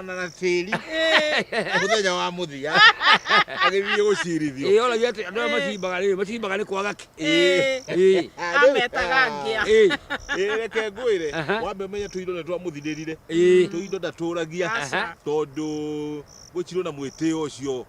ona na tĩri mũthenya wa mũthia agĩthiĩ gũcirithio ĩĩ oragia atĩ andũ arĩa macimbaga rĩ macimbaga nĩ kwaga kĩ Ĩĩ. ĩĩ ametaga ngĩa ĩĩ Ĩĩ, reke ngwĩre Aha. wambe ũmenye tũindo nĩ twamũthirĩrire Ĩĩ. tũindo ndatũragia Aca. tondũ gũtirĩ na mwĩtĩo ũcio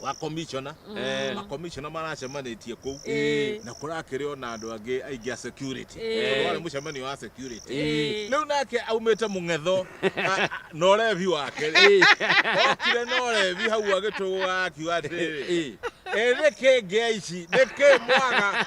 wa commissioner Eh. ma commissioner maracemanĩtie kũu Eh. na kũrakĩrĩ ona andũ angĩ aingĩ a security Eh. Tondũ warĩ mũcemanio wa security Eh. rĩu nake aumĩte mũng'etho a- a- na ũrebi wake rĩ okire na ũrebi hau agĩtũgũga akiuga atĩrĩ Eh. ĩthĩ kĩngĩa ici nĩkĩ mwaga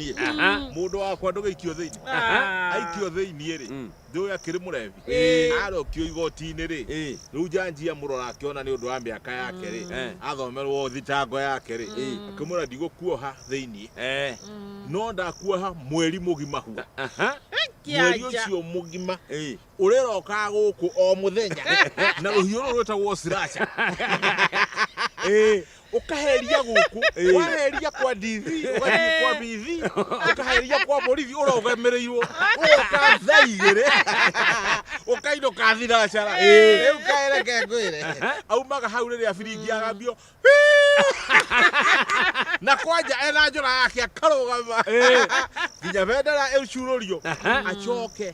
niĩ mũndũ wakwa ndũgĩikio thĩinĩ aikio thĩinĩ rĩ ndũĩ akĩrĩ mũrebi arokio igoti-inĩ rĩ rĩu njanji amũrora akĩona nĩ ũndũ wa mĩaka yake rĩ athomerwo thitango yake rĩ akĩmwĩra ndigũkuoha thĩinĩ no ndakuoha mweri mũgima hu mweri ũcio mũgima ũrĩrokaga gũkũ o mũthenya na rũhiũ rũrũ rwĩtagwo slasher ukaheria guku waheria kwa DV ugathiĩ kwa BV ukaheria kwa borithi ũrogemereirwo ũgoka thaa igĩrĩ ũkainũka thinacara rĩu kaereke ngwĩre aumaga hau rĩrĩa biringi agambio na kwanja ena njora yake akarũgama nginya bendera ĩcurũrio acoke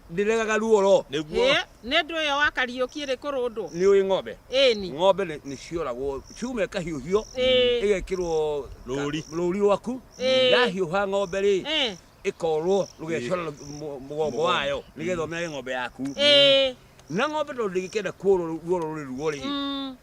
Ndiregaga ruo ro nĩguo. Ĩ, nĩ ndũ ĩyo wa kariũki ĩrĩ kũrũndwo Nĩ ũĩ ng'ombe? ĩni Ng'ombe nĩ nĩ cioragwo, ciuma ĩkahiũhio, Ĩĩ. ĩgekĩrwo Rũũri. rũũri rwaku. Ĩĩ. Yahiũha ng'ombe rĩ, Ĩ, ĩkorwo rũgecora rũ- mũ- mũgongo wayo nĩgetha ũmenye ng'ombe yaku. ĩ, Na ng'ombe tondũ ndĩgĩkenda kuorwo ruo rũrĩ ruo rĩ, mm,